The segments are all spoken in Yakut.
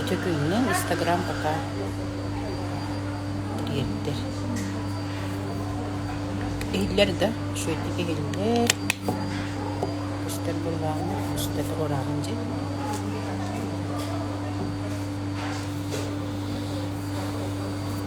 Өчөкүҥҥүн Инстаграм пока тиэрдэр. Иһиллэр да, шөйтик иһиллэр. Кустар булбаҕына, кустар оҕураанын дьэ.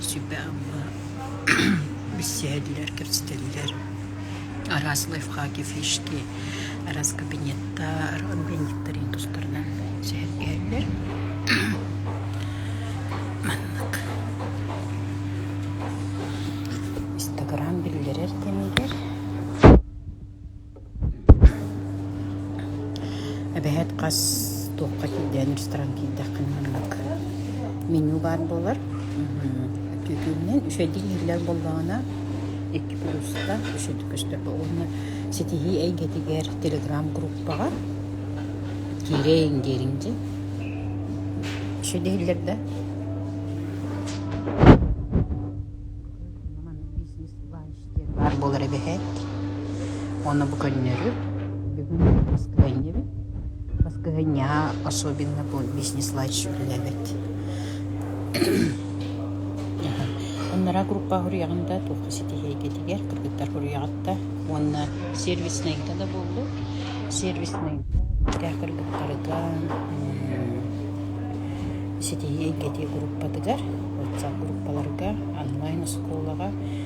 Себя-амма билсиһэллэр, кэпсэтэллэр. Араас лайфхаки, фишки, араас кабинеттар, объединниктарын тустарынан сэһэргэһэллэр. Маннык Инстаграм биллэрэр кэмигэр Эбэһээт хас туохха киирдэҕин ресторан киирдэххинэ оннук меню баар буолар түөкүнүнэн үчэйдик иһиллэр буоллаҕына икки плюска үчэйдик көстөр уонна ситиһии эйгэтигэр телеграм-группаҕа киириэҥ диэриҥ дии үчэйдик иһиллэр да диэн баар буолар эбэһээт. Уонна бу көннөрү бүгүн баскыһынньыбыт. Баскыһынньаҕа особенно бу бизнес-лайч үлэлэбит. Аннараа группа хуруйаҕында туохха ситиһиэгитигэр кыргыттар хуруйаҕытта уонна сервиснэйгэ да буоллу. Сервиснэйгэ кыргыттарыгар ситиһиэйгити группатыгар, WhatsApp группаларга, онлайн оскуолаҕа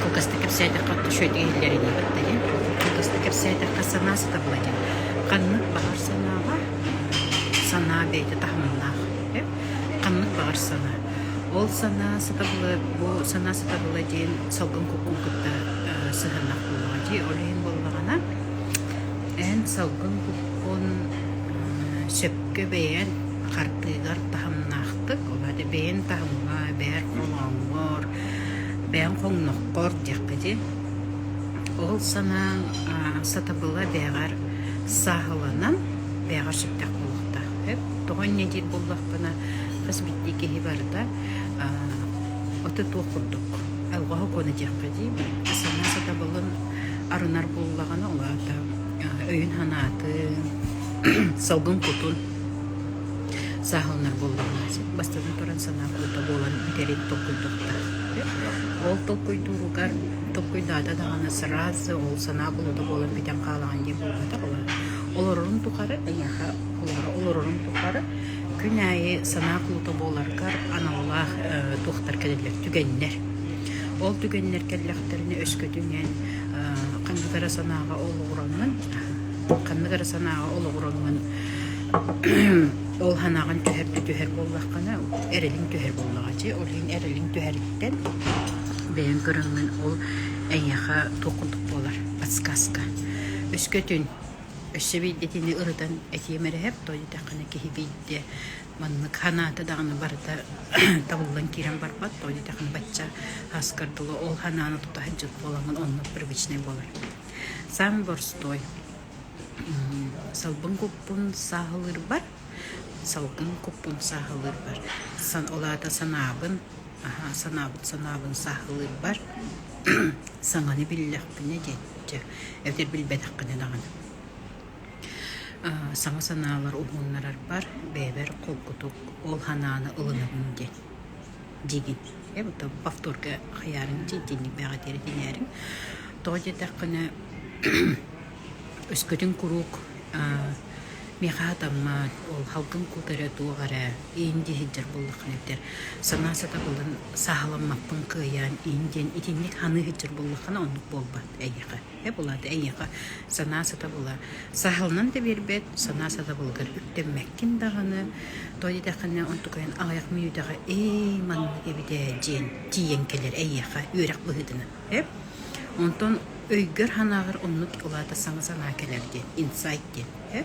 Кылгастык кэпсээтэххэ отто үчүгэйдик иһиллэринии кытта иһин. Кылгастык кэпсээтэххэ санаа сатабыла иһин. Ханнык баҕар санааҕа санаа бэйэтэ таһымнаах үп. Ханнык баҕар санаа. Ол санаа сатабыла бу санаа сатабыла диэн салгын куккуу кытта э сыһыаннах буоллаҕа дии. Ол иһин буоллаҕына эн салгын куккун э сөпкө бэйээн хардыыгар таһымнаахтык, ол это бэйэн таһымҥа, бэйэр холооҥҥор, бэйэн хоҥноххор диэххэ дии. Ол санаа сатабыла бэйэҕэр сааһыланан, бэйэҕэр сүптэх буолуохтаах. Эп тоҕо инньэ диир буоллахпына, хас биирдии киһи барыта аты туох курдук алҕаһы куона диэххэ дии, санаа сатабылын арынар буоллаҕына, ол аата өйүн-санаатын, салгын кутун сааһыланар буоллаҕына бастатан туран санаа куута буолан бүтэрин толкуйдатта. Ол толкуйдууругар толкуйдаата даҕаны сразу ол санаа куута буолан бүтэн хаалаҕын диэн буолбатах олорон олорорун тухары киниэхэ олоро олорорун тухары күн аайы санаа куута буоларгар аналлаах э, туохтар кэлэллэр түгэннэр ол түгэннэр кэллэхтэринэ өскөтүнэн э, ханнык эрэ санааҕа олоҕураннын ханнык эрэ санааҕа олоҕураҥҥын ол санааҕын түһэр да түһэр буоллаххына эрэлиҥ түһэр буоллаҕа дьи ол иһин эрэлиҥ түһэриттэн бэйэҥ көрөҥҥүн ол эйиэхэ туох курдук буолар подсказка өскөтүн өссө биирдэтини ырытан этиэм эрэһэп тоойутэххина киһи биирдэ маннык санаата даҕаны барыта табыллан киирэн барбат тоойутэххина бачча аскар дылы ол санааны тута сылдьыт буолаҥҥын онно привычнай буолар Саан борстуой. Салбын куппун сааһылыырбар, салбын куппун сааһылыырбар. Сан, ол аата санаабын, аһа, санаабыт санаабын сааһылыырбар саҥаны биллэхпинэ диэччи, эбэтэр билбэтэххинэ даҕаны. Саҥа санаалар уһууннарарбар бэйэбэр холкутук ол санааны ылынабын диэн. диигин бу повторга хайаарыҥ дии итинник бээҕэтиэри тиҥээриҥ тоҕо диэтэххинэ өскөтүн куруук миэхэ хатаммат ол халкын куутара туох эрэ иин дии сылдьар буоллаххына этэр санаа сатабылын сааһыламмаппын кыайаан иин диэн итинник саныы сылдьар буоллаххына оннук буолбат эйиэхэ Эбэ булааты эйиэхэ санаа сатабыла саһылынан да биэрбэт, санаа сатабылыгар үктэммэккин даҕаны, тоҕо диэтэххинэ онтукайын аҕыйах мүнүүтэҕэ эй маннык эбитэ диэн тиийэн кэлэр эйиэхэ үөрэх быһыытынан эп онтон өйгөр-санааҕар оннук улаата саҥа санаа кэлэр диэн инсайт диэн э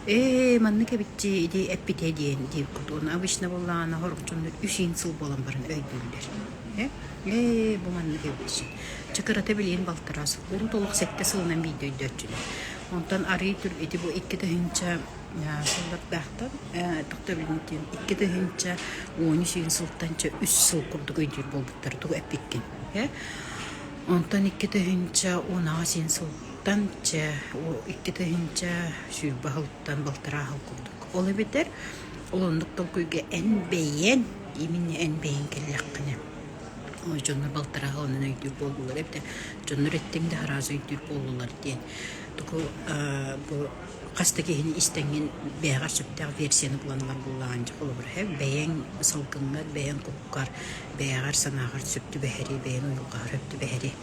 ээ маннык эбитти ити эппитэ диэн диир кут уонна обычно буоллаҕына хорохчуннар үс иин сыл буолан баран өйдүүллэр Ээ, бу маннык эбит Чакырата билигин балтараа сыл, урут олох сэттэ сылынан биирдэ өйдөтчүнү. Онтон арыый түр ити бу икки тыһыынча сыллардаахтан тохто билиниттиин икки тыһыынча он үс үн сылтанча үс сыл курдук өйдүүр буолбуттара тугу эппиккин. Онтон икки тыһыынча он аҕыс үн сылтан чэ икки тыһыынча сүүрбэ аһылтан балтараа аһыл курдук. Ол эбэтэр Ол оннук толкуйга эн бэйэн, именно эн бэйэҥ кэллэххинэ дьоннор балтарааҕа онон өйдүүр буоллулар эбитэ дьоннор эттиҥ да араас өйдүүр буоллулар диэн туку бу хас да киһини истэҥҥин бэйэҕэр сөптөөх версияны булан ылар буоллаҕын дьэ холобура һэ бэйэҥ салгыҥҥар бэйэҥ куккар бэйэҕэр санааҕар сөп түбэһэрий бэйэҥ уйулҕаҕар сөп түбэһэрий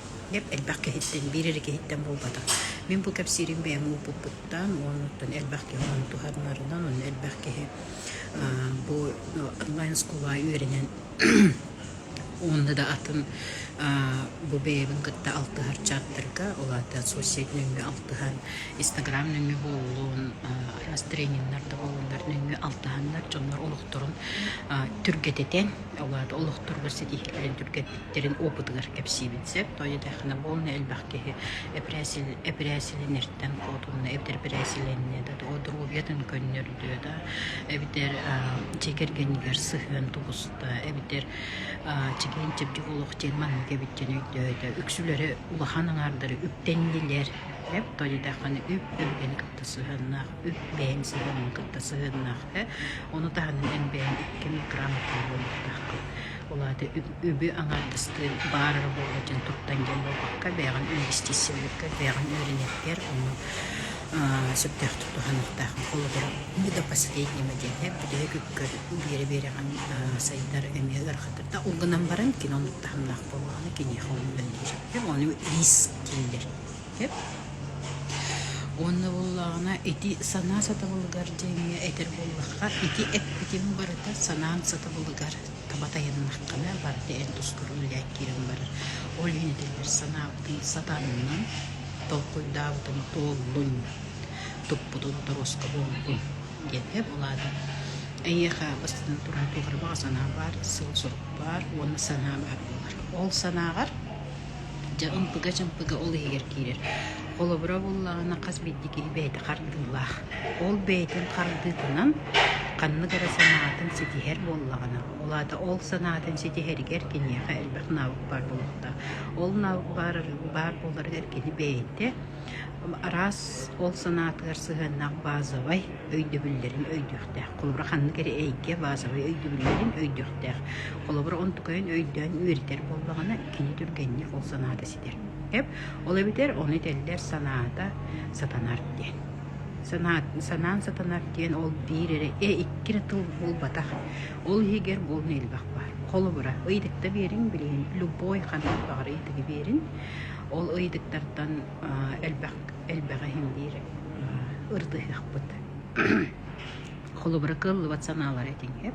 элбэх киһиттэн биир эрэ киһиттэн буолбатах мин бу кэпсиирим бэйэм уопуппут туттан уонуттан элбэх киһи ону туһанарынан уонна элбэх киһи бу онлайн оскуола үөрэнэн уонна да атын бу бэйэбин кытта алтыһар чааттарга улаатан соцсеть нөҥүө алтыһан инстаграм нөҥүө буоллун араас трениннэр да буоллуннар нөҥүө алтыһаннар дьоннор олохторун түргэтэтэн улаата олохторго ситиһиилэрин түргэтэтэн кэлин опытыгар кэпсиибин сөп тоҕо диэтэххинэ бу онно элбэх киһи эпэрээсил эпэрээсилинэртэн куотунна эбэтэр эпэрээсилэннэ да доруобуйатын көннөрдө да эбэтэр дьиэ кэргэнигэр сыһыан тубуста эбэтэр чэгиэн чэбдик олох диэн маннык эбит диэн өйдөөтө үксүлэрэ улахан аҥаардара үптэннилэр леп тоҕо диэтэххинэ үп өбүгэни кытта сыһыаннаах үп бэйэҥ сыһыаҥҥын кытта сыһыаннаах э ону таһынан эн бэйэҥ икки микрограмм буолбатаххын ол аата үп үбү аҥаардастыы баар эрэ буолуо диэн туттан дьаллылҕакка, бэйэҕин инвестициялыырга, бэйэҕин үөрэниэхпигэр онно сөптөөхтүк туһаныахтаах. Холобура, мы до последнего диэки бүтэһик ыккыр биэрэ-биэрэҕин сайдар эмиэ ыарахатырда. Ол гынан баран кино оннук таһымнаах буоллаҕына киниэхэ үлэлиир. Сөп? Ону риск дииллэр. Сөп? Уонна буоллаҕына ити санаа сатабылыгар диэҥҥэ этэр буоллахха ити эппитим барыта санаам сатабылыгар таба тайаннаххына барыта эн тускур үллээккиирэн барар. Ол иһин этэллэр санаабытын сатаанынан толкуйдаабытын туоллун, туппутун торуоска буоллун диэн эп улаатан эйиэхэ бастатан туран туох эрэ баҕа санаа баар сыал-сорук баар уонна санаа баар буолар ол санааҕар Дьэ ымпыга-чымпыга ол иһигэр киирэр. Холобура буоллаҕына хас биирдии киһи бэйэтэ хардыылаах. Ол бэйэтин хардыытынан ханнык эрэ санаатын ситиһэр буоллаҕына, ол аата ол санаатын ситиһэригэр киниэхэ элбэх наабык баар буолуохтаах. Ол наабык баар баар буоларыгар кини бэйэтэ араас ол санаатыгар сыһыаннаах базовай өйдөбүллэрин өйдүөхтээх. Холобура ханнык эрэ эйгэ базовай өйдөбүллэрин өйдүөхтээх. Холобура онтукайын өйдөөн үөрэтэр буоллаҕына киһи түргэнник ол санаата ситэр. Ол эбэтэр ону этэллэр санаата сатанар диэн. санаан сатанар диэн ол биир эрэ э икки эрэ тыл булбатах ол иһигэр буолна элбэх баар холобура ыйытыкта берин билигин любой ханнык баҕар ыйытыгы берин ол ыйытыктартан элбэх элбэх иһин биир ырдыһахпыт холобура кыллыбат санаалар этиҥ эп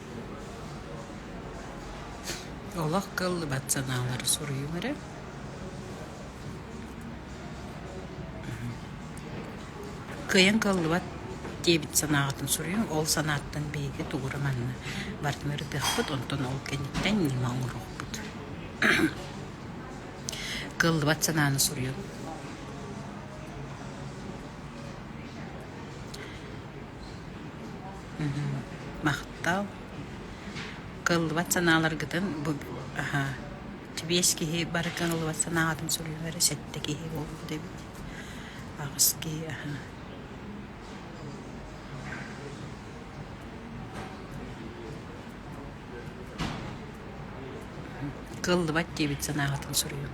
Олох кыллыбат санаалары суруйуҥ эрэ кыайан кыллыбат диэбит санааҕытын суруйуҥ ол санааттан биһиги тугура манна барытын ырытыахпыт онтон ол кэнниттэн ньыма оҥоруохпут кыллыбат санааны суруйуҥ махтал кыллыбат санааларгытын бу аха сибиэс киһи бары кыаллыбат санааларын суруйуох эрэ сэттэ киһи буолбут эбит аҕыс киһи аха кыллыбат диэбит санааҕытын суруйуҥ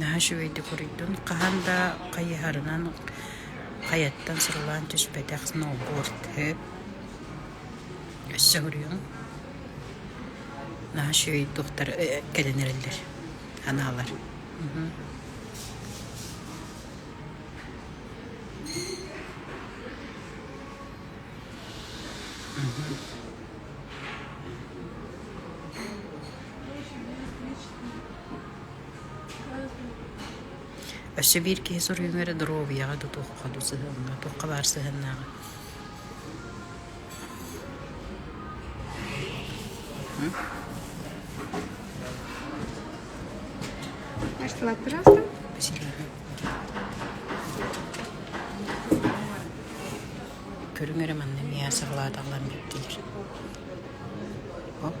наһаа үчүгэйдик уруйдун хаһан да хайыһарынан хайаттан сурулаан түспэтэх сноуборд өп өссө суруйуҥ наһаа үчүгэй туохтар кэлэн эрэллэр анаалар Mm-hmm. Өссө биир киһи суруйуум эрэ доруобуйаҕа да туохха да сыһыаҥҥа туохха баар сыһыаннааҕа Нашла, пожалуйста. Спасибо. Көрүҥ эрэ манна миэхэ саҕалааталлан биэрдилэр Оп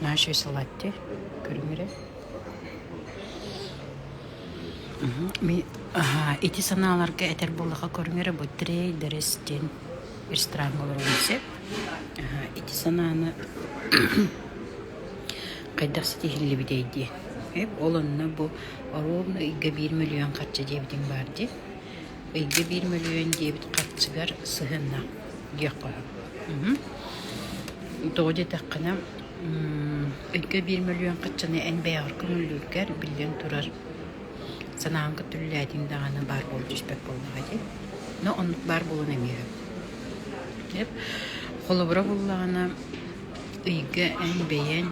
Наши салатти көрүҥ эрэ ми ити санааларга этэр буоллаха көрүҥ эрэ бу трейдерс диэн ресторан олорон сөп ити санааны хайдах ситиһиллибитэй диэн ол онно бу оруобуна ыйга биир мөлүйүөн харчы диэбитиҥ баар дии Ыйга биир мөлүйүөн диэбит харчыгар сыһыанна диэххэ сөп. Тоҕо диэтэххинэ, ыйга биир мөлүйүөн харчыны эн бэйэҕэр көҥүллүүргэр, биллэн турар, санааҕын көтүрүллээтиҥ даҕаны баар буола түспэт буоллаҕа дии. Но оннук баар буолуон эмиэ сөп. Дьэ, холобура буллаҕына, ыйга эн бэйэҥ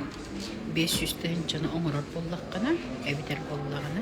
биэс сүүстэһин дьону оҥорор буоллаххына, эбэтэр буоллаҕына,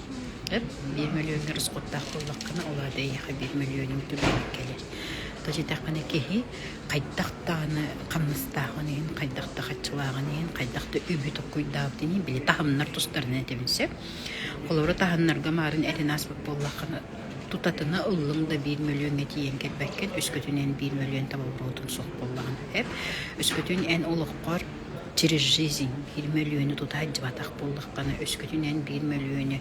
Эн биир мөлүйүөҥҥэ расхуттаах буоллаххына, ол аата эйиэхэ биир мөлүйүөнүҥ түгээнэ кэлэр. Толчитаххына киһи хайдах даҕаны хамнастаахын иһин, хайдах да хаччылааҕын иһин, хайдах да үбү толкуйдаабытын иһин, били таһымнар тустарынан этэбин сөп. Холобура, таһымнарга маарын эрин ааспыт буоллаххына, тутатына ыллыҥ да биир мөлүйүөҥҥэ тиийэн кэлбэккэ, үскэтин эн биир мөлүйүөн таба буруотун суох буоллаҕына сөп. Үскэтин эн олоххор через жизнь биир мөлүйүөнү тута сылдьыбатах буоллаххына өскөтүнэн биир мөлүйүөнү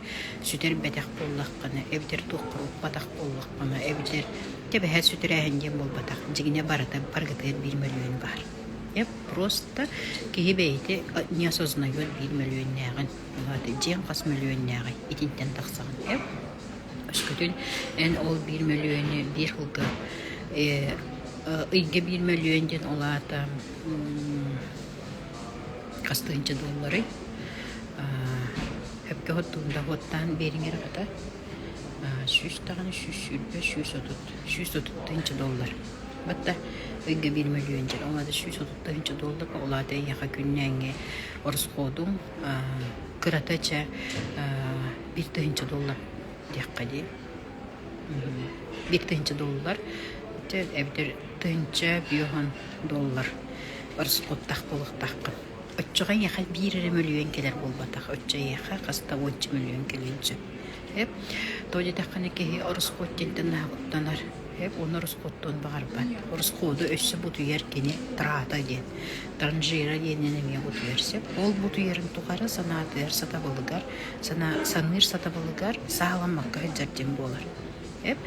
сүтэрбэтэх буоллаххына эбэтэр туохха укпатах буоллаххына эбэтэр тэбэһэ сүтэрээһин диэн буолбатах дьиҥинэ барыта баргытыгар биир мөлүйүөн баар Эп просто киһи бэйэтэ не осознает биир мөлүйүөннээҕин. Ваата дьиэҥ хас мөлүйүөннээҕий итинтэн тахсаҕын эп. Өскөтүн эн ол биир мөлүйүөнү биир кылга ыйга биир мөлүйүөн диэн ол аата хас тыһыынча дуоллары өпкө оттуун доходтаан биэриҥэр хата сүүс даҕаны сүүс сүүрбэ сүүс отут сүүс отут тыһыынча доллар батта ыйга биир мөлүйүөн дьэн ол аата сүүс отут тыһыынча долларга ол аата эйиэхэ күннээҥҥи ороскуотуҥ кырата чэ биир тыһыынча доллар диэххэ дии Биир тыһыынча доллар. Дьэ, эбэтэр тыһыынча бүөһүн доллар ороскуоттаах буолуохтааххын. Оччоҕо эйиэхэ биир эрэ мөлүйүөн кэлэр буолбатах. Оччо эйиэхэ хас да уонча мөлүйүөн кэлиэн сөп. Эп тоҕо диэтэххинэ киһи ороскуот диэнтэн наһаабыттанар. Эп уонна ороскуоттуун баҕарбат. Ороскуоду өссө бутуйар кини трата диэн. Транжира диэнинэн эмиэ бутуйар сөп. Ол бутуйарын тухары санаатыгар сатабылыгар саныыр сатабылыгар саһаламмакка сылдьар диэн буолар. Эп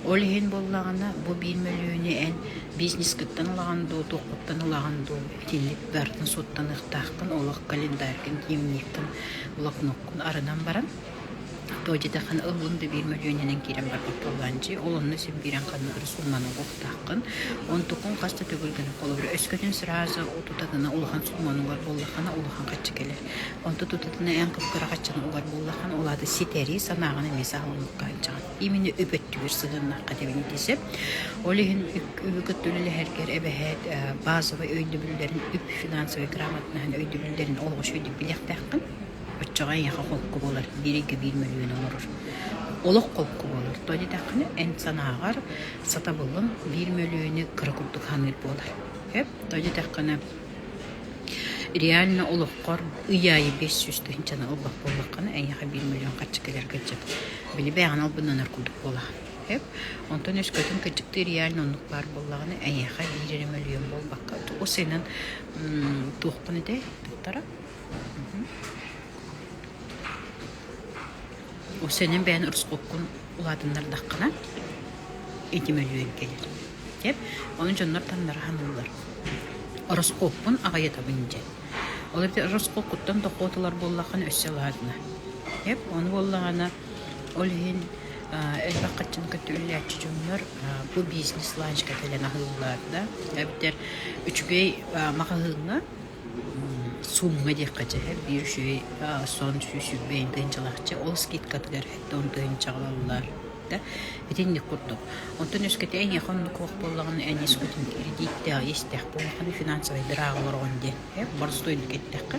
ол иһин буоллаҕына бу биир мөлүйүөнү эн бизнескыттан ылаҕын дуу, туоххуттан ылаҕын дуу итинник быһартан суоттаныахтааххын, олох календарькын, дневниккин, блокноккун арынан баран то детэхин ылбын да биир мөлүйүөнүнэн киирэн барбат буоллаан дии ол онно син киирэн ханна ыры сумманыллыахтааххын онтукун хас да төгүл гына холобур өскөтүн сразу утута гына улахан сумманугар туоллаххына улахан хаччы кэлэр Онто тутатына эн кып-кыраҕаччыны угар буоллаххына, ол аата ситэрии санааҕын эмиэ саҕаламмакка илдьэҕин. Именно үп-өттүгэр сыһыаннаахха тэбини дии сөп. Ол иһин үп кытта үлэлэһэргэр эбэһээт базовай өйдөбүллэрин, үп-финансовай грамотнаһын өйдөбүллэрин олоҕу өйдөбүл билиэхтээххин. Оччоҕо эйиэхэ холку буолар, бииргэ биир мөлүйүөн оҥорор. Олох холку буолар. Тоҕо диэтэххинэ, эн санааҕар сатабылыҥ биир мөлүйүөнү кыра курдук саныыр буолар. Тоҕо диэтэххинэ, Реально олоххор ый аайы биэс сүүс тыһыынча тыһыынчаны ылбат буоллаххына, эйиэхэ биир миллион харчы кэлэргэ сөп. Били бэйэҕинэн албыннанар курдук буолаҕын, сөп? Онтон өскөтүн кырдьыктыы реально оннук баар буоллаҕына, эйиэхэ биир эрэ мөлүйүөн буолбакка, тугу сыынан туохпун этэй туттара? Ол сыанан бэйэҥ росхолкун улаатыннардаххына, ити мөлүйүөн кэлэр. Кэп, ону дьоннор таннара саныыллар. Ороскуоппун аҕыйатабын дьэ. Ол эрээри ороскуоккуттан дохуоталар буоллаххына өссө алаадына. Кэп, ону буоллаҕына ол иһин аа, элбэх хаччын кытта үллээччи дьоннор аа, бу бизнес-ланчка кэлэн аһыыллар да эбэтэр үчүгэй аа, маҕаһыыҥҥа Суумҥа диэххэ биир үчүгэй сон сүүс үрбэ инчэ инчалаахча ол скидкатыгар эттэ онто инчэҕэлэллэр да итинник курдук. Онтон үөскэтэ эйиэхэ оннук уох буоллаҕына эн искутин кирэдииттээх истэх буоллаххына финансовай дырааҕа олороҕун диэн ээ борустуойдук эттэххэ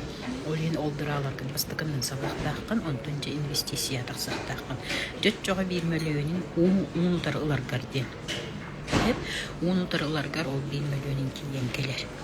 ол иһин ол дырааларгын бастакынан сабыахтааххын онтон дьэ инвестицияҕа тахсыахтааххын. Дьэ оччоҕо биир мөлүйүөнүн уун уун утары ыларгар диэн. Эн уун утары ыларгар ол биир мөлүйүөнүн тиийэн кэлэр.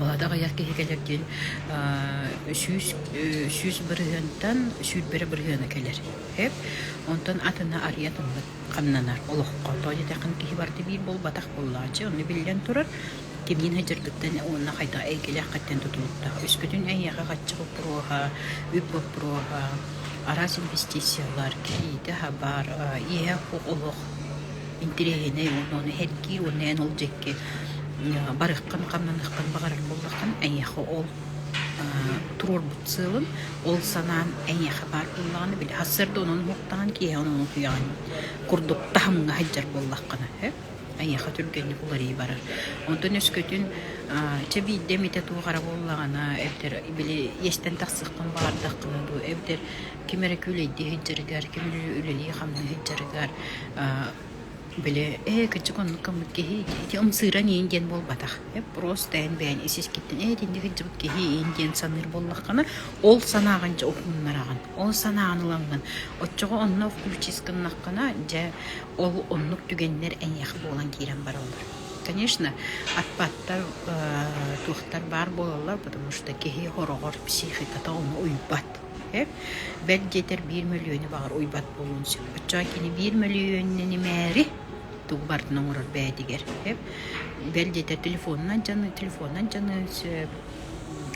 Ол ата аҕыйах киһи кэлэр диэн сүүс сүүс бырыһыантан сүүрбэрэ бырыһыана кэлэр эп онтон атына арыйа атыммыт хамнанар олоххо тоҕо диэтэххин киһи барда биир буолбатах буоллааччы ону биллэн турар кимниин сыдьыргыттан уонна хайдах эйгэлээххиттэн тутулуктаах өскөтүн эйиэхэ хаччы боппуруоһа үп боппуруоһа араас инвестициялар кириитэ хабар иэһэ олох интэриэһинэй уонна ону сэргии уонна эн ол дьэкки барыаххын хамнаныаххын баҕарар буоллаххын эйиэхэ ол туруорбут сыалын ол санаам эйиэхэ баар буоллаҕына били сарда онон уһуктаҕын киһи онон утуйаҕын курдук таһымҥа сылдьар буоллаххына эйиэхэ түргэнник уларыы барар онтон өскөтүн чэ биирдэ эмитэ туох эрэ буоллаҕына эбэтэр били иэстэн тахсыаххын баҕардаххына дуу эбэтэр ким эрэ күлэйдии сылдьарыгар ким үлэлии хамныы сылдьарыгар Били ээ кырдьык оннук гыммыт киһи ити ымсыыран иин диэн буолбатах. Эппуруос тэйэн бэйэҥ ис-искиттэн ээ итиннэ кырдьыбыт киһи иин диэн саныыр буоллаххына, ол санааҕын дьэ уһуннараҕын, ол санааҕын ылаҥҥын. Оччоҕо онно включить гыннаххына дьэ ол оннук түгэннэр эйиэхэ буолан киирэн бараллар. Конечно, отпадтар туохтар баар буолаллар, потому что киһи хороҕор психиката ону уйбат. Эп, бэрт диэтэр биир мөлүйүөнү баҕар уйбат буолуон сөп. Оччоҕо кини биир мөлүйүөнүн имээри тугу барытын оҥорор бэйэтигэр. Эп, бэл диэтэр телефонунан дьаны, телефонунан дьаны сөп.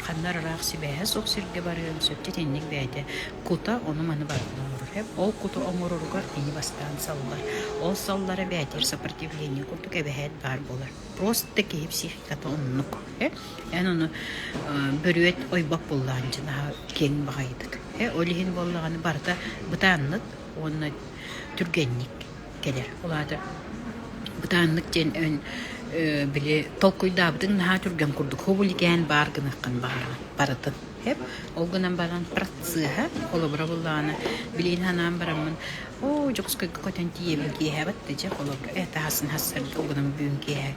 Ханна ыраах сибээһэ суох сиргэ барыан сөп. Дьэ итинник бэйэтэ кута ону-маны барытын оҥорор. Эп ол куту оҥороругар кини бастаан саллар. Ол саллара бэйэтигэр сопротивление курдук эбэһээт баар буолар. просто киһи психиката оннук. Эн ону бөрүөт ойбок буллаҕын дьинаһа киэҥ баҕайытык. Ол иһин буоллаҕына барыта бытааннык уонна түргэнник кэлэр. Ол аата бытааннык диэн өн били толкуйдаабытыҥ наһаа түргэн курдук хобуликээн баар гыныаххын баҕараҕын барытын Эп, ол гынан баран працеһа холобура буллаҕына билигин санаан бараммын оо Дьокуускайга көтөн тиийэбин киэһэбит да дьэ холобура э таһасын хассарга угунам бүгүн киэһэ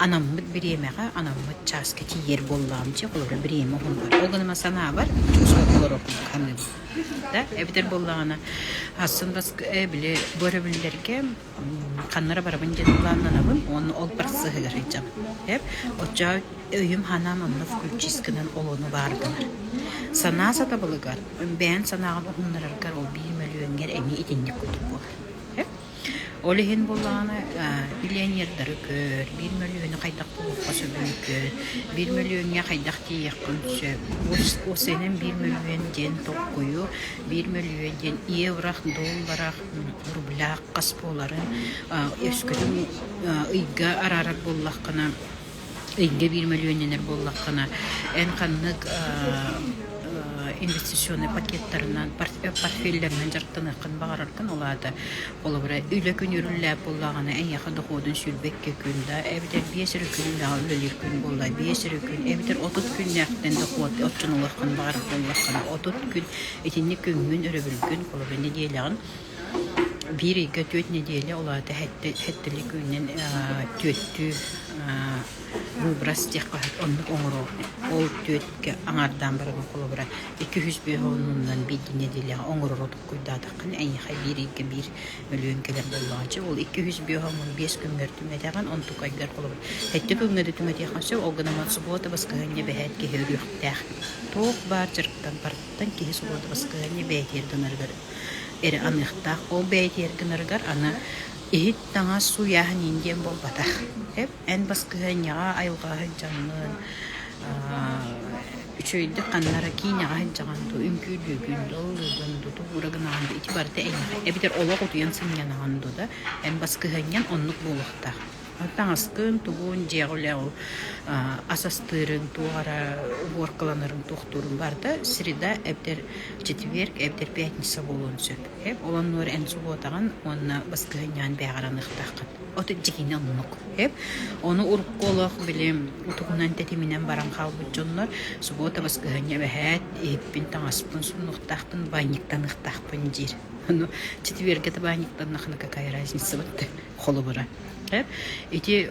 анаммыт бириэмэҕэ анаммыт чааска тиийэр буоллаҕым дьэ холобура бириэмэ уһуннар ол гынан санаабар Дьокуускайга олороппун саныыбын да эбэтэр буоллаҕына хассын бас э, били бу өрөбүллэргэ ханнара барабын диэн планнанабын уонна ол барсыһыгар сылдьабын. Эп оччо өйүм-санаам онно включистканан олону баардылар. Санаа сатабылыгар, бэйэм санааҕын уһуннараргар ол биир мөлүйүөҥҥэр эмиэ итинник курдук буолар. Эп ол иһин буоллаҕына миллионердары көр, биир мөлүйүөнү хайдах булуохха сөбүн көр, биир мөлүйүөҥҥэ хайдах тиийиэххин сөп. Ол иһинэн биир мөлүйүөн диэн толкуйу, биир мөлүйүөн диэн евро, доллара рублях хас буоларын өскөтүн ыйга араарар буоллаххына ыйга биир мөлүөннэнэр буоллаххына эн ханнык инвестиционнай пакеттарынан портфеллэринэн дьарыктаныаххын баҕараргын ол аата холобура үлэ күн үрүллээх буоллаҕына эйиэхэ дохуодун сүүрбэккэ күн да эбэтэр биэс эрэ күн үлэҕэ үлэлиир күн буолла биэс эрэ күн эбэтэр отут күннээхтэн дохуот оччону ылыаххын баҕарар буоллаххына отут күн Итинник күҥҥүн, өрөбүлгүн, половина нэдиэлэҕин биир ыйга түөрт нэдиэлэ улаата сэттэлик күнүнэн түөттүү выброс диэх баһыт оннук оҥоруо. Ол түөткэ аҥаардаан баран холобура икки үс бөһө оннунан биир нэдиэлэҕэ оҥорору тугуйдаатаххына эйиэхэ биир ыйга биир өлүөн кэлэр буоллаҕа. Чэ, ол икки үһүс биоһоммун биэс күҥҥэр түҥэтэҕин, онтукайгар холобур сэттэ күҥҥэ да түҥэтиэххин сөп, ол гынан субуота баскыһыанньа бэһээт киһи өлүөхтээх. Туох баар дьарыктан барыттан киһи субуота баскыһыанньа бэйэтигэр гынарыгар эрэ аныахтаах. Ол бэйэтигэр гынарыгар аны иһит, таҥас, сууйааһын иин диэн буолбатах. эн баскыһыанньаҕа айылҕаҕа сылдьаҕыҥҥын үчүгэйдик ханнара киинэҕэ сылдьаҕын дуу үҥкүүрдүүгүн дуу ыллыыгын дуу тугуура гынаҕын дуу ити барыта эйиэхэ эбэтэр олох утуйан сынньанаҕын дуу да эн баскыһыанньаҥ оннук буолуохтаах таҥаскын тугун дьиэҕэ үлэҕи ас астыырын туох эрэ убуоркаланарын туохтуурун барыта среда эбэтэр четверг эбэтэр пятница буолуон сөп ол оннугар эн субуотаҕын уонна баскыһыанньаҕын бээҕэрэн ыахтааххын отут дьиҥинэ омук. Ону урукку олох били утугунан тэтиминэн баран хаалбыт дьоннор субуота баскыһанньа бэһээт иһиппин таҥаспын суннуктаахпын баанньыктаныахтаахпын диир. Ону четвергete баанньыктаннахына какая разница бытты холобура. Ити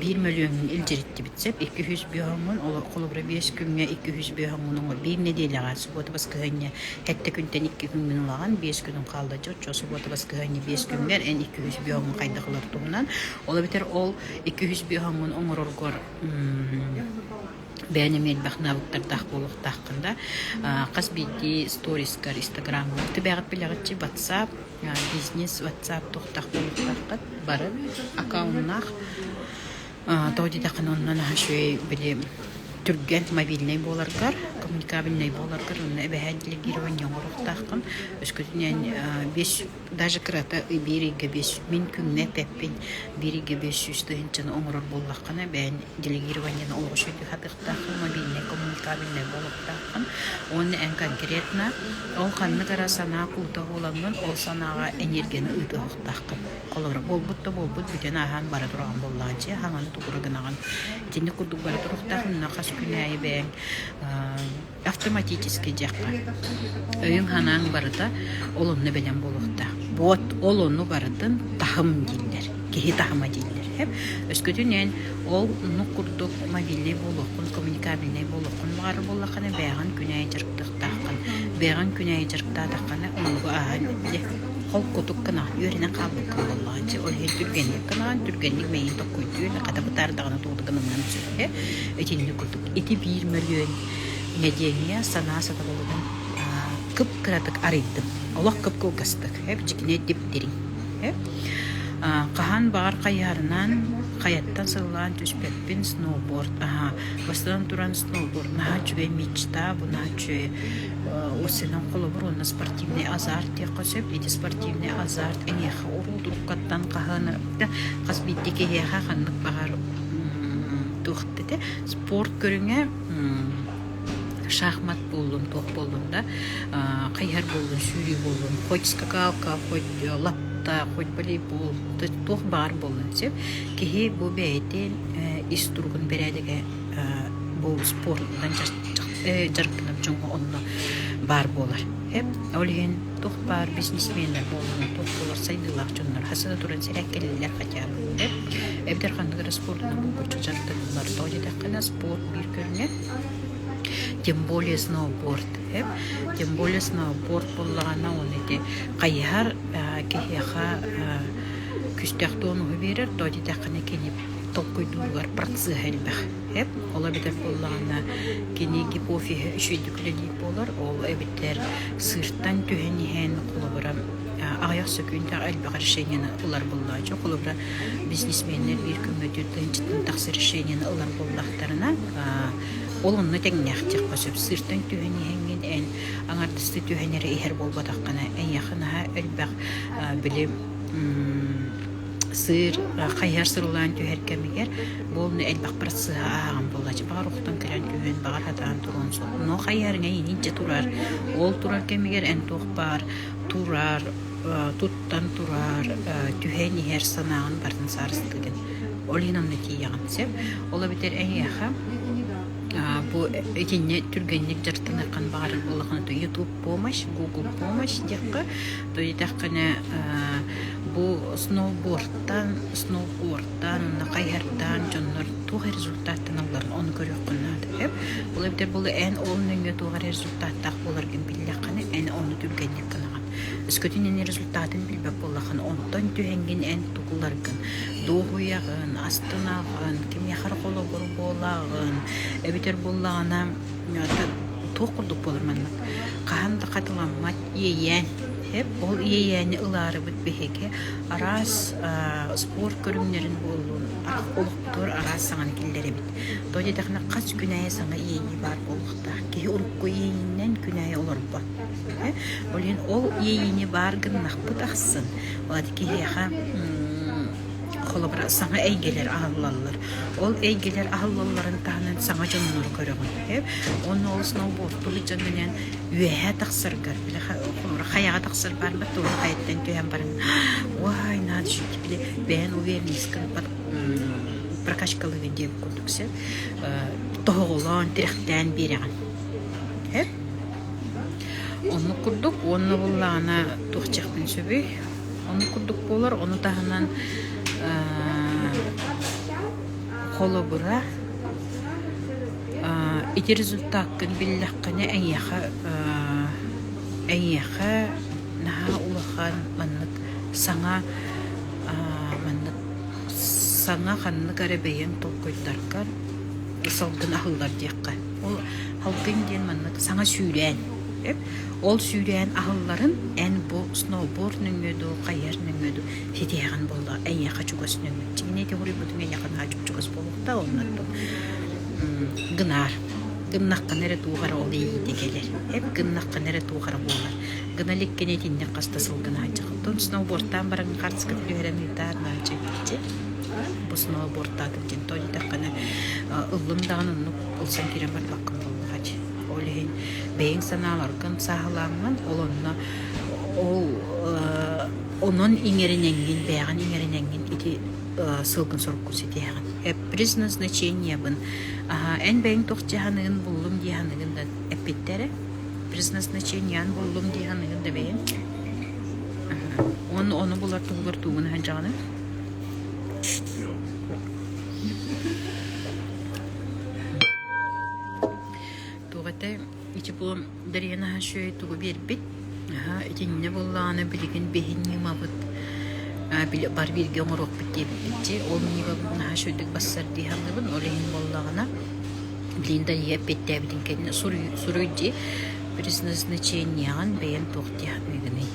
биир мөлүөҥҥүн илдьириттибит сеп икки үһүс бөһөҥҥүн холобура биэс күҥҥэ икки үһүс бөһөҥҥүн биир нэдиэлэҕэ субуота баскыһанньа Эрдэ күнтэн икки күҥҥүн улаҕан, биэс күнүн хаалладьы оччо субуота баскыһыанньа биэс күҥҥэр эн икки үһүс бүөҕүҥ хайдах ылар туһунан. Ол эбэтэр ол икки үһүс бүөҕүҥҥун оҥороргор бэйэм эмиэ элбэх навыктардаах буолуохтааххын да хас биирдии сторискар инстаграмҥар тибэҕит билэҕитчи ватсап бизнес ватсап туохтаах буолуохтааххыт бары аккаунтнаах тоҕо диэтэххинэ оннун аһа үчүгэй били түргэн мобильнай буоларгар коммуникабельнай буоларгар онно эбэһээн делегирование оҥоруохтааххын өскөтүнэн бес даже кырата биир ыйга бес мин күҥҥэ тэппин биир ыйга бес сүүс тыһыынчаны оҥорор буоллаххына бэйэн делегированиены олоҕусуй тыһатыахтааххын мобильнай коммуникабельнай буолуохтааххын уонна эн конкретно ол ханнык эрэ санаа куута буоламмын ол санааҕа энергияны ыытыахтааххын Олоро буолбут да буолбут бүтэн ааһан бара тураҕан буоллаҕа дьиэ хаҥаны тухура гынаҕын итинник курдук бара туруохтаах инна хас күн аайы бэйэҥ автоматический дьиэххэ өйүҥ санааҥ барыта ол онно бэлэм буолуохтаах буот ол ону барытын таһым дииллэр киһи таһыма дииллэр хэп өскөтүнэн ол ну курдук мобильный буолуоххун коммуникабельный буолуоххун баҕары буоллаххына бэйэҕин күн аайы дьарыктыахтааххын бэйэҕин күн аайы дьарыктаатаххына онугу ааһан Холкутук гынаҕын, үөрэнэн хаалбыккын буоллаҕа дии. Ол иһин түргэнник гынаҕын, түргэнник мэйин токкуйдуун, хата бытаар даҕаны тугу да гыныҥҥын сөп ээ. Итинник курдук ити биир мөлүйүөн нэдиэлэ санаа сатабылыгын аа кып-кыратык арыйдым. Олох кып-кылгастык, ээ, дьикинэ дип дириҥ, ээ. Аа хаһан баҕар хайыһарынан, хайаттан сыллаан түспэппин сноуборд, аһаа, бастатан туран сноуборд наһаа үчүгэй, мечта, бу наһаа үчүгэй Ол сынан холобур уонна спортивный азарт диэххэ сөп. Ити спортивный азарт эйиэхэ уруутуруккаттан хаһыыныпта. Хас биирдии киһиэхэ ханнык баҕар туох этэ спорт көрүҥэ шахмат буоллун туох буоллун да хайыһар буоллун сүүрүү буоллун хоть скакалка хоть лапта хоть волейбол туох баҕар буоллун сөп киһи бу бэйэтин ис туругун бэрээдэгэ бу спорунан дьарыктанар дьоҥҥо онно баар буолар. Ол иһин туох баар бизнесменнэр буолан туох буолар сайдыылаах дьоннор хас да туран сирэ кэлэллэр хотя бы диэн эбэтэр ханнык эрэ спорунан булгуччу дьарыктаныллар тоҕо диэтэххинэ спорт биир көрүҥэ тем более сноуборд тем более сноуборд буоллаҕына оны ити хайыһар киһиэхэ күүстээх туонуһу биэрэр тоҕо диэтэххинэ кини толкуйдуугар процеһа элбэх. Эп ол эбэтэр буоллаҕына кини гипофиһа үчүгэйдик үлэлиир буолар. Ол эбэтэр сыыртан түһэн иһэн холобура аҕыйах сөкүүндээх элбэх решениены ылар буоллааччы. Холобура бизнесменнэр биир көмөтүттэн дьиттэн тахсар решениены ылар буоллахтарына ол онно тэҥнээхтиэххэ сөп. Сыыртан түһэн иһэҥҥин эн аҥардастыы түһэн эрэ иһэр буолбатаххына эйиэхэ наһаа элбэх били сыыр хайыһар сырылаан түһэр кэмигэр бу олну элбэхпэр сыыһа ааһан буолааччы баҕар ухтан кэлэн түһэн баҕар сатаан туруон сөп но хайыһарыҥа иниччэ турар ол турар кэмигэр эн туох баар турар туттан турар түһэн иһэр санааҕын барын саарыстыыгын ол иһин онно тиийэҕин сөп ол эбэтэр эһиэхэ бу итиннэ түргэнник дьарыктаныаххын баҕарар буоллаххына ютуб помощь google помощь диэххэ Итэххинэ бу сноубордтаан, сноубордтаан уонна хайыһардаан дьоннор туох результаттаналларын ону көрүөххүн наада. Эп ол эбдэр бұл эн ол нөҥө туох эрэ результаттаах боларгын биллэххинэ эн ону түргэнник гынаҕын. Өскөтүн эн результатын билбэк боллахан онтон түһэнгин эн тукуларгын дуоһуйаҕын, астынаҕын, кимиэхэр холобур буолаҕын эбитэр буллаҕына туох курдук буолар маннык хаһан да хатыламмат Иэйээн. Эп ол иэйээни ылаарыбыт биһиги араас спорт көрүҥнэрин буоллун олохпутугар араас саҥаны киллэрэбит. Тоҕо диэтэхинэ хас күн аайы саҥа иэйии баар буолуохтаах. Киһи урукку иэйиинэн күн аайы олорбот. Ол иһин ол иэйиини баар гыннахпыт ахсын киһиэхэ холобура саҥа эйгэлэр аһыллаллар. Ол эйгэлэр аһыллалларын таһынан саҥа дьоннору көрөҕүн. Онно ол сноуборд сылдьан үөһэ тахсаргар били хомура хайаҕа тахсар баарбар туоһу хайаттан түһэн баран уой надо жить били бэйэн увернискын под прокачкалыгын диэн курдук сен тоһоҕолоон тирэхтээн биэрэҕин һэп оннук курдук уонна буллаҕына туох чехпин сөбүй оннук курдук буолар ону таһынан холобура Ити результаккын биллэххинэ эйиэхэ эйиэхэ наһаа улахан маннык саҥа маннык саҥа ханнык эрэ бэйэҥ толкуйдаргар салгын аһыллар диэххэ. Ол салгын диэн маннык саҥа сүүрээн. Ол сүүрээн аһылларын эн бу сноуборд нөҥүө дуу хайар нөҥүө дуу ситиһэҕин буоллар эйиэхэ чугас нөҥүө. Чигини ити хоруйбутуҥ эйиэхэ наһаа чупчугас Омукта умнаппыт гынаар. Гыннаххына эрэ туох эрэ ол иэйиитэ кэлэр. Эп гыннаххына эрэ туох эрэ буолар. Гына иликкини итинник хаста сыл гынааччык. Оттон сноубордтаан баран хартскын түһэрэн ыытаар наачык дии. Бу сноубордтаатым диэн тоо дитэххинэ ыллым даҕаны оннук ылсан киирэн бардаххын буоллаҕа дии. Ол иһин бэйэҥ санааларгын сааһылааммын ол онно ол онон иҥэринэҥҥин бэйэҕин иҥэринэҥҥин ити сылгын-соруккун ситиһэҕин. Приз назначениебын эн бэйэҥ туох дьэ саныгын буллум дии саныгын да эппиттэрэ. Приз назначенияны буллум дии саныгын да бэйэҥ. Уонна ону булар туһугар тугун сылдьаҕыный? Туох этэ ити бу Дариан аһа үчүгэй тугу биэрбит? Аһа итиннэ буоллаҕына билигин биһин ньымабыт бар бииргэ оҥоруохпут диэбиппит дии. Ол ньымабытын аһа үчүгүйдүк барсар дии саныыбын. Ол иһин буоллаҕына блин дайыа эппиэттээбитин кэннэ суруй суруй дии предназначениеҕын бэйэм туох дии саныыгыный?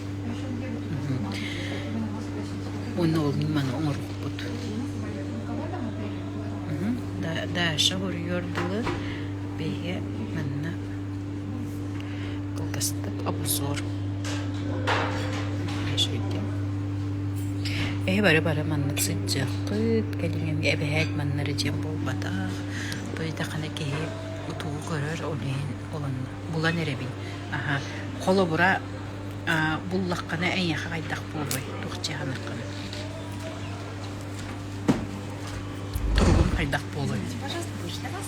Уонна ол ньыманы оҥорбуппут. Даша буруйуор дылы бэйэ манна Кылгастык обзор Эһи бары бары маннык сыдьыаххыт, кэлиҥҥин эбэһээт маннары дьиэм буолбатах. Бу итахана киһи утугу көрөр, ол иһин булан эрэбин. Аха, холобура, буллаххына эйиэхэ хайдах буолуой, туох дьаһанаххына? Туругум хайдах буолуой? Пожалуйста, будешь для вас?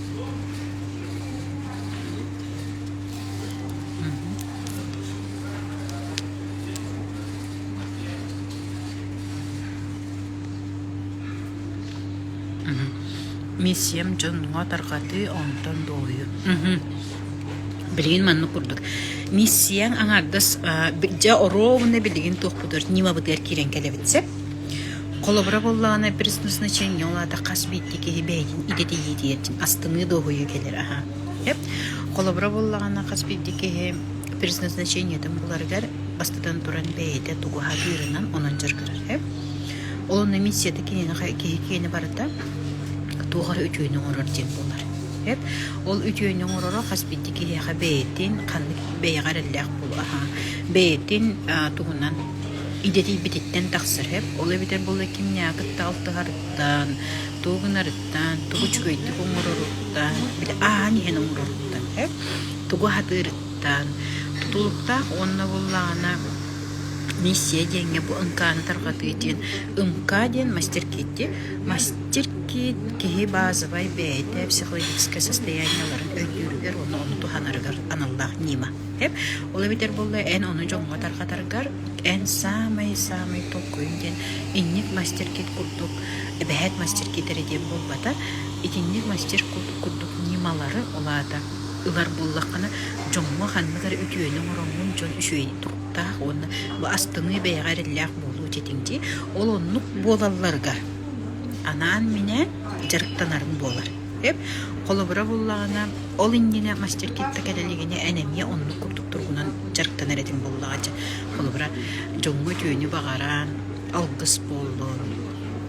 Миссиям дьонуҥа тарҕатыы, онтон дуоһуйу. Билигин маннык курдук. Миссияң аҥардас дьэ оруобуна билигин туохпутугар нимабытыгар киирэн кэлэбит сеп. Холобура буоллаҕына, преснозначение ол аата хас биирдии киһи бэйэтин идэтийиитигэр астыныы дуоһуйуу кэлэр аһа. Сөп? Холобура буоллаҕына, хас биирдии киһи преснозначениетын буларыгар бастатан туран бэйэтэ тугу аһатыырынан онон дьарыктанар. Сөп? Ол онно миссията киһини киһи киһини барыта туох эрэ үтүөнү оҥорор диэн буолар. Сөп? Ол үтүөнү оҥороро хас биирдии киһиэхэ бэйэтин ханнык бэйэҕэ эрэллээх буолуо аһа, бэйэтин тугунан Идэтийбититтэн тахсар эб, ол эбэтэр буоллар кимнээҕи кытта алтыһарыттан, тугу гынарыттан, тугу үчүгэйдик оҥороруттан, били ааһан иһэн оҥороруттан эб, тугу аһатыырыттан, тутулуктаах уонна буоллаҕына миссия диэҥҥэ бу ынкааны тарҕатыы диэн ынкаа диэн мастер-киитти. Мастер-киит киһи баазабай бэйэтэ психологическай состояниеларын өйдүүрүгэр уонна ону туһанарыгар аналлаах ньыма. Тэп ол эбэтэр буолла эн ону дьоҥҥо тарҕатаргар эн саамай-саамай толкуйуҥ диэн инник мастер-кит курдук эбэһээт мастер-кит эрэ диэн буолбата, итинник мастер-кут курдук ньымалары, ол аата ылар буоллаххына, дьоҥҥо ханнык эрэ үтүөнү оҥороҥҥун дьон үчүгэй туруктаах уонна бу астыныы бэйэҕэ эрэллээх буолуо этиҥ дии. Ол оннук буолалларыгар анаан-минээн дьарыктанарыҥ буолар. Холобура буоллаҕына, ол иннинэ мастеркетка кэлэ илигинэ эн эмиэ оннук курдук туругунан дьарыктанар этиҥ буоллаҕа дьэ. Холобура, дьоҥҥо үтүөнү баҕаран, алгыс буоллун,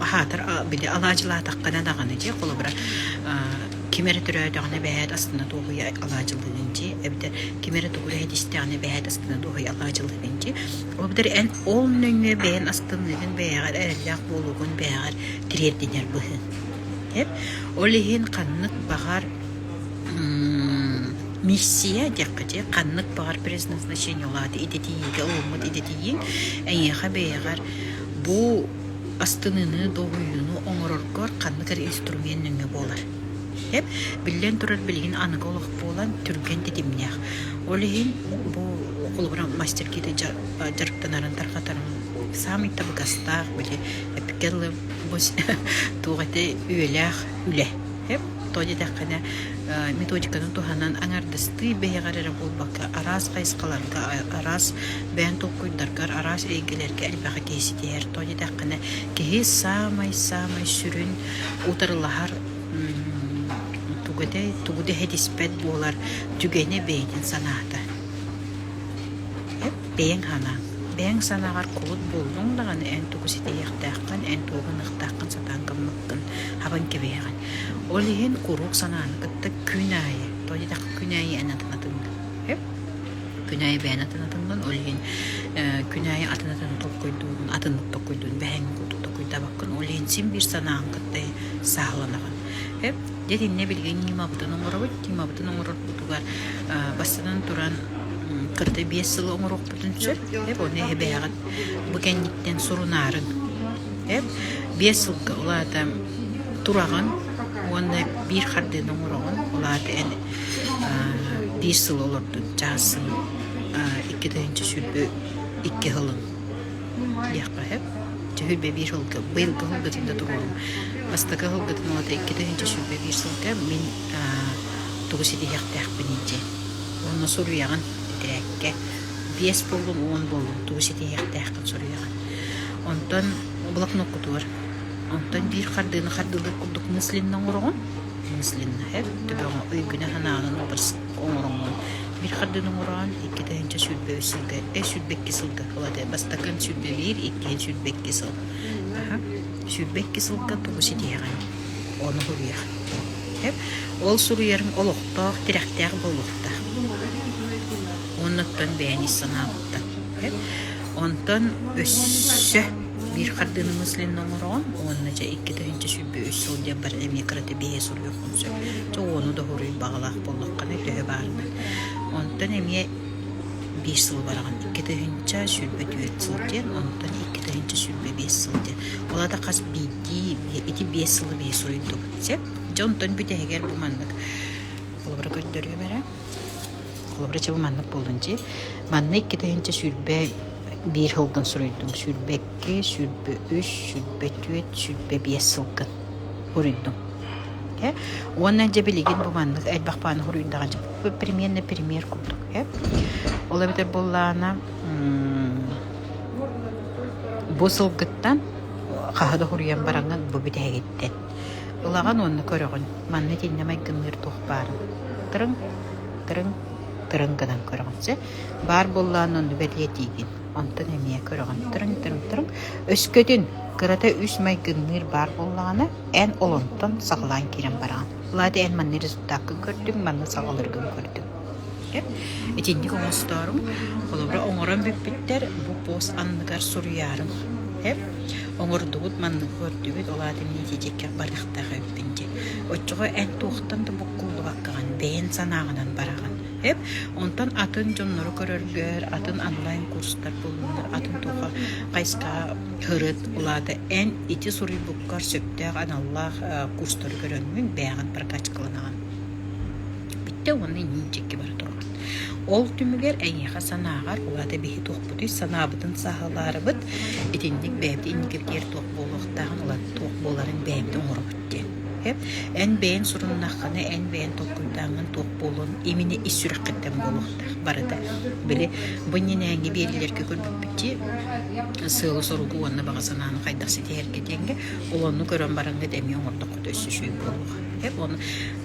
аһаатар били алаадьылаатаххына даҕаны дьэ холобура ким эрэ төрөөтөҕүнэ бэйээт астына-дуоһуйа алаадьылыыгын дьэ эбэтэр ким эрэ тугу эрэһит истэҕинэ бэйээт астына-дуоһуйа алаадьылыыгын дьэ. Ол быдэр эн ол нөҥүө бэйэн астынныыгын, бэйэҕэр эрэллээх буолуугун бэйэҕэр тириэрдинэр быһыы. эппиттэр. Ол иһин ханнык баҕар миссия диэххитий ханнык баҕар предназначение улаата идэтийиитэ ууммут идэтийииҥ эйиэхэ бэйэҕэр бу астыныыны долгуйууну оҥороргор ханнык эрэ инструмент нөҥүө буолар. Эп биллэн турар билигин аныгы олох буолан түргэн тэтимнээх. Ол иһин бу холобура мастеркиты дьарыктанарын тарҕатарын саамай табыгастаах били эпикэллы бу туох этэй үөлээх үлэ тоҕо диэтэххинэ методиканы туһанан аҥардастыы бэйэҕэр эрэ буолбакка араас хайысхаларга араас бэйэҥ толкуйдаргар араас эйгэлэргэ элбэҕи киһи ситиһэр тоҕо диэтэххинэ киһи саамай саамай сүрүн утарылаһар тугу этэй тугу да иһитиспэт буолар түгэнэ бэйэтин санаата Бэйэҥ санааҥ. Бэйэҥ санааҕар кулут буоллуҥ даҕаны, эн тугу ситиһиэхтээххин, эн тугу гыныахтааххын сатаан гыммыккын, хабан кэбиһиэҕиҥ. Ол иһин куруук санааны кытта күн аайы, тоҕо диэтэххэ күн аайы эн атын атыҥҥын. Күн аайы бэйэн атын атыҥҥын, ол иһин күн аайы атын-атын толкуйдуурун, атыннык толкуйдуурун бэһэҥҥин курдук толкуйдаабаккын. Ол иһин син биир санааҕын кытта сааһыланаҕын. Дьэ итиннэ билигин Ньымабытын оҥоробут. Ньымабытын оҥорорбутугар бастатан туран кытта биэс сыл оҥоруохпутун сөп. Эп ону эһэ бэйэҕит бу кэнниттэн сурунаарын. Эп биэс сылга улаата тураҕын уонна биир хардыыны оҥороҕун. Улаата эн биир сыл олордун чаассын икки тыһыынча сүүрбэ икки сылын. диэххэ сөп. Төһөйбө биир сылга быйыл кыһылгытын да туруоруҥ. Бастакы кыһылгытын улата икки тыһыынча сүүрбэ биир сылга мин тугу ситиһиэхтээхпиний дии. Уонна суруйаҕын титирээккэ биэс буоллун уон буоллун тугу ситиһиэхтээххин суруйаҕын. Онтон блокноккутугар онтон биир хардыыны хардыылыыр курдук мысленно оҥороҕун. Мысленно эр төбөҕө өйгүнэ санаанан убарс оҥороҥҥун bir хардыын оҥороон иккитэһинчэ сүүрбэ үс сылга э сүүрбэкки сылга вот бастакын сүүрбэ биир иккиһин сүүрбэкки сыл аха сүүрбэкки сылга тугу ситиһэҕин ону суруйар ол суруйарым олохтоох тирэхтээх буолуохтаах оннуттан бэйэни ис санаабыттан онтон өссө биир хардыыны мыслин оҥороон уонна дьэ иккитэһинчэ үс сылдьарбар эмиэ кырата биэһэ суруйуохпун сөп. Чэ уону да хоруй баҕалаах буоллаххына төһө баарынан. Онтон эмиэ биир сыл бараҕын икки тыһыынча сүүрбэ түөрт сыл диэн онтон икки тыһыынча сүүрбэ биэс сыл диэн ол аата хас биирдии ити биэс сылы биһи суруйдубут сөп дьэ онтон бүтэһигэр бу маннык холобура көрдөрүөм эрэ холобура чэ бу маннык буоллун дии манна икки тыһыынча сүүрбэ Биир сылтан суруйдум сүүрбэ икки, сүүрбэ үс, сүүрбэ түөрт, сүүрбэ биэс сылгын уруйдум. Э уонна дьэ билигин бу маннык элбэх бааны уруйдаҕа дьэ премьернэ премьер курдук э ол эбэтэр буоллаана бу сылгыттан хаһы да уруйан бараҥҥын бу бүтэһигиттэн ылаҕын уонна көрөҕүн манна итиннэ майгынныыр туох баарын тырыҥ тырыҥ тырыҥ гынан көрөҕүн сэ Баар буоллаҕын онно бэлиэтиигин. Онтон эмиэ көрөҕүн. Тырыҥ, тырыҥ, тырыҥ. Өскөтүн кырата үс майгынныыр баар буоллаҕына, эн олонтон саҕалаан киирэн бараҕын. Влади, эн манна результаккын көрдүҥ, манна саҕаларгын көрдүҥ. Окей? Итинник оҥостоорум. Холобура, оҥорон бүппүттэр, бу пост анныгар суруйаарым. Окей? Оҥордугут, манныгы көрдүгүт, ол аата миитичэккэ барыахтаах эбиппин дии. Оччоҕо эн туохтан да буккуллубаккаҕын, бэйэн санааҕынан бараҕын. эт. Онтон атын дьоннору көрөргөр атын онлайн-курстар булуннар, атын туха хайска һырыт улаата. Эн ити суруйбуккар сөптөөх аналлаах э, курстары көрөҥҥүн бэйэҕин прокачкаланаҕын. Бүттэ уонна иниичикки бара турган. Ол түмүгэр эйиэхэ санааҕар улаата биһи туохпутуй санаабытын саһалаарыбыт итинник бэйэбит инникитигэр туох буолуохтааҕын улаата туох буоларын бэйэбит оҥоробут диэн. Эн бэйэҥ суруннаххына, эн бэйэҥ толкуйдааҥҥын туох буолуон имине ис сүрэххиттэн буолуохтаах барыта. Били бу иннинээҥҥи биэриилэргэ көрбүппүттии сыала-соругу уонна баҕа санааны хайдах ситиһэргэ диэҥҥэ ол онну көрөн бараҥҥыт эмиэ оҥордоххута өссө үчүгэй буолуоҕа. Уонна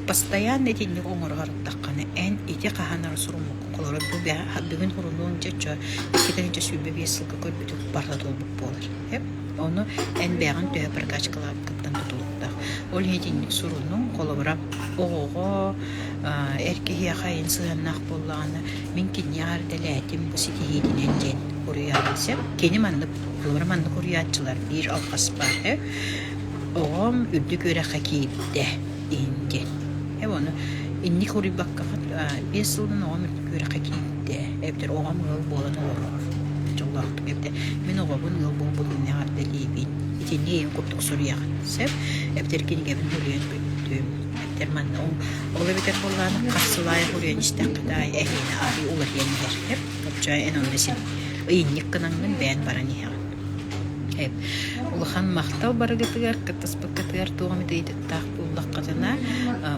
постоянно итинник оҥоро сырыттаххына эн ити хаһан эрэ суруммуккун холоро бүгүн сурунуоҥ дьэ оччо икки тыһыынча сүүрбэ биэс сылга көрбүтүҥ барыта туолбут буолар. Ону элбээҕин төһө прокачкалаабыккыттан тутулуктаах. Ол иһитинник сурунуҥ, холобура, оҕоҕо, эр киһиэхэ эн сыһыаннаах буоллаҕына, мин кинини эҕэрдэлээтим, бу ситиһиитинэн диэн уруйаабын сөп. Кини маннык, холобура, маннык уруйааччылар: биир алҕас баара, оҕом үрдүк үөрэххэ киирдэ. иһиннэ. Э ону инник хоруйбаккафа биэс сылынан оҕом үөрэххэ киирдэ. Эбэтэр оҕом ыал буолан олорор. Дьоллоохтук эбэтэ мин оҕобун ыал буолбут иннэҕэр дэлиибин. Итинни эйин курдук суруйаҕын сөп. Эбэтэр кинигэбин хөрүйэн бүттүм. Эбэтэр манна ол эбэтэр буоллаанын хахсылаайа хөрүйэн истэххэ аай эһиэнэ арыы уларыйан иһэртэ. Оччо эн онно син ыйынньык гынаҥҥын бэйэн баран иһэҕин. Улахан махтал барыгытыгар кыттаспыккытыгар туох эмит ыйытык тустаах буоллаххытына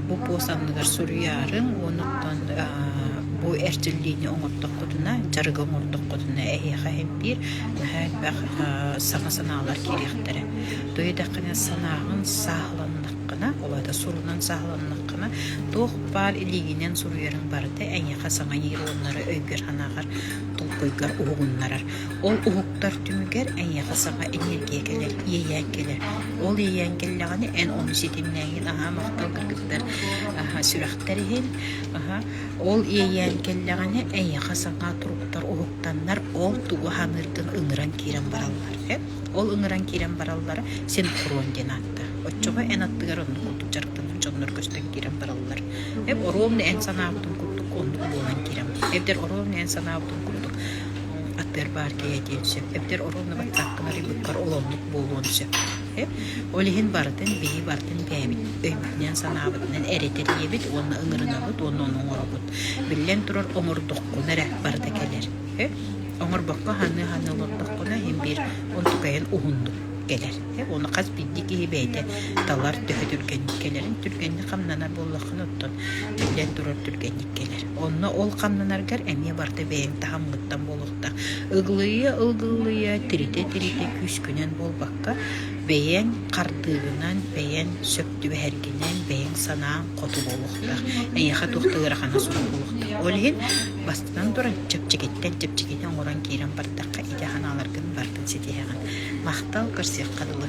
бу пост анныгар суруйаарыҥ онуттан бу эрчиллиини оҥортоххутуна дьарыгы оҥортоххутуна эһиэхэ элбиир наһаа элбэх саҥа санаалар киириэхтэрэ то идэххинэ санааҕын сааһыланнаххына улаата сурунан сааһыланнаххына туох баар илиигинэн суруйарыҥ барыта эйиэхэ саҥа иир уоннары өйгөр санааҕар толкуйгар уһугуннарар Ол уһуктар түмүгэр эйиэхэ саха эниэргиэкэлэр иэйээн кэлэр. Ол иэйээн кэллэҕинэ эн ону ситимнээҥҥин аһаа махтал гыргыттар аһа сүрэхтэр иһин аһа ол иэйээн кэллэҕинэ эйиэхэ саҥа туруктар уһуктаннар ол тугу саныыргын ыҥыран киирэн бараллар ээ ол ыҥыран киирэн бараллара синхрон диэн аатта оччоҕо эн аттыгар оннук курдук дьарыктанар дьоннор көстөн киирэн бараллар эн оруобуна эн санаабытын курдук оннук буолан киирэн барар эдэр оруобуна эн санаабытын курдук Аттыгар баар кэйэтиэн сөп. Эбэтэр оруонна баттааххын арыйбыккар олоннук буолуон сөп. Ол иһин барытын билии барытын бэйэбит өйбүтүнэн, санаабытынан эрэ тэрийэбит уонна ыҥырынабыт уонна ону оҥоробут. Биллэн турар, оҥордоххуна эрэ барыта кэлэр. Оҥорбокко аһыныы-аһыныы олордоххуна иһин биир онтукайын уһуннук кэлэр. Уонна хас биирдии киһи бэйэтэ талар төһө түргэнник кэлэрин түргэнник хамнанар буоллаххына оттон биллэн турар түргэнник кэлэр. Онно ол хамнанаргар эмиэ барыта бэйэҥ таһымҥыттан буолуохтаах. Ылгылыйа-ылгылыйа, тиритэ-тиритэ күүскүнэн буолбакка, бэйэҥ хардыыгынан, бэйэҥ сөп түбэһэргинэн, бэйэҥ санааҥ хоту буолуохтаах. Эйиэхэ туох да ыарахана суох буолуохтаах. Ол иһин бастатан туран, чэпчэкиттэн чэпчэкитин оҥорон киирэн бардахха, ити санааларгын барытын ситиһэҕин. Махтал, көрсүөххэ дылы.